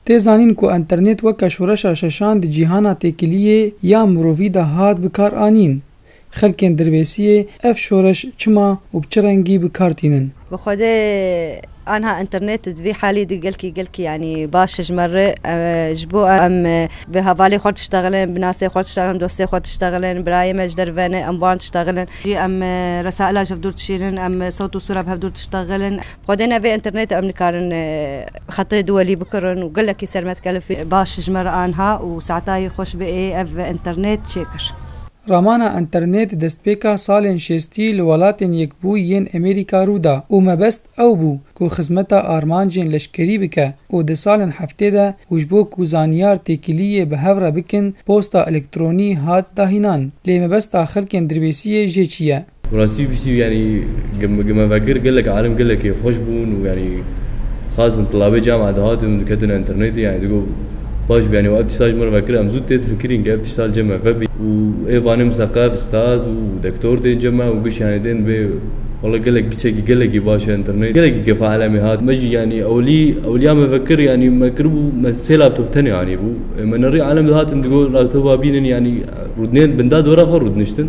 Tê zanîn ku înternêt weke şoreşa şeşan di cîhana têkiliyê ya mirovî de hat bi kar anîn. Xelkên dirbêsiyê ev şoreş çima û bi çi rengî bi kar tînin? Bi xwedê anha înternêt di vî halî de gelkî gelkî yanî baş ji me re ji bo em bi hevalê xwe diştexilin, bi nasê xwe diştexilin, dostê xwe diştexilin, birayê me ji derve ne, em wan diştexilin. Jî em resaila ji hev dûr dişînin, em sewt û sûra bi hev dûr diştexilin. Xwedê ne vê înternêtê em nikarin xetê duwelî bikirin û gelekî sermed kelif e. Baş ji me re anha û Seatayî xweş bi ê ev înternêt çê kir. Ramana înternêt destpêka salên şêstî li welatên Yekbûyî yên Amerîka rû da û mebest ew bû ku xizmeta armancên leşkerî bike û di salên heftê de û ji bo ku zanyar têkiliyê bi hev re bikin posta elektronî hat dahînan lê mebesta xelkên dirbêsiyê jê çi ye? Bi rastî piştî yanî gemevegir gelek alim gelekî xweş bûn û yanî xas bin tilabê camia dihatin û diketine înternêtê yanî digot baş bû yanî wa ev tişta ji min re vekir em zû tê difikirîn ke ev tişta li cem me vebî û ê vanê miseqef staz û dektor tên cem me û giş yanî tên dibê walla gelek giçekî gelekî baş e înternêt gelekî kefa elemê hat me jî yanî ewilî ewiliya me vekir yanî me kiribû me sê laptop tenê anîbû ê me nerî alem dihatin digot laptopa bînin yanî rûdinên binda dora xwe rûdiniştin.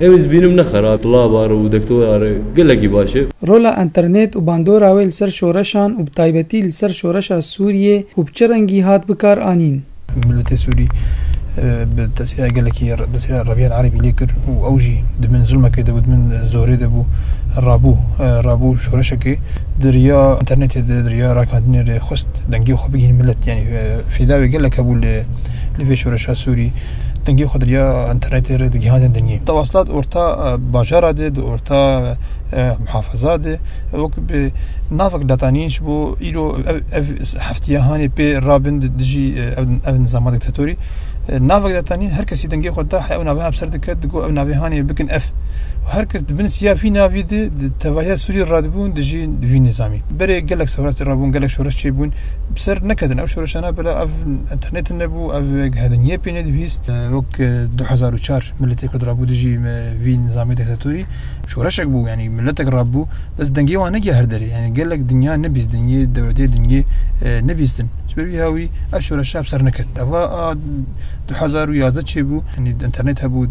Ew ez bînim ne xerab, silav are û dektor are gelekî baş e. Rola înternêt û bandora wê li ser şoreşan û bi taybetî li ser şoreşa Sûriyê û bi çi rengî hat bikar anîn? Miletê Sûrî bi tesîra gelekî tesîra reviyên erebî lê kir û ew jî di bin zilmekê de bû, di bin zorê de bû. Rabû rabû şoreşekê di riya înternêtê de, di riya ragihandinê de xwest dengê xwe bigihîne milet. Yanî fîda wê gelek hebû li vê şoreşa Sûrî. dengê xwe derya internetê re digihandin dinyê. Tewaslat orta bajara de, di orta muhafaza de wek bi navek datanîn ji bo îro ev ev heftiya hanê pê rabin dijî ev nizama diktatorî. Navek datanîn her kesî dengê xwe da ew navê hepser dike digo ev navê hanê bikin ev. Her kes di bin siya vî navî de di tevahiya Sûrî radibûn dijî vî nizamî. Berê gelek sewrat rabûn, gelek şoreş çêbûn. bi ser neketin ew şoreşana bila ev internetin nebû ev gihediniyê pê nedibîst wek du hezar û çar milletê ku dirabû dijî me vî nizamê diktatorî şoreşek bû yanî milletek rabû bes dengê wan negiya her derê yanî gelek dinya nebîst dinyê dewletê dinyê nebîstin ji ber vî hawî ev şoreşa bi ser neket eva a du hezar û yazdeh çêbû yanî internet hebû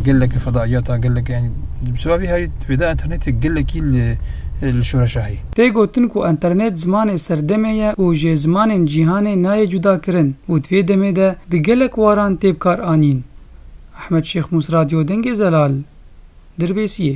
geleke fedaiyata geleke yanî bi ser vî hawî vêda internetê gelekî li li şoreşa heye Tê gotin ku enternet zimanê serdemê ye û jê zimanên cîhanê nayê cudakirin û di vê demê de di gelek waran tê bikaranîn. Ehmed Şêxmûs Radyo Dengê Zelal, Dirbêsiyê.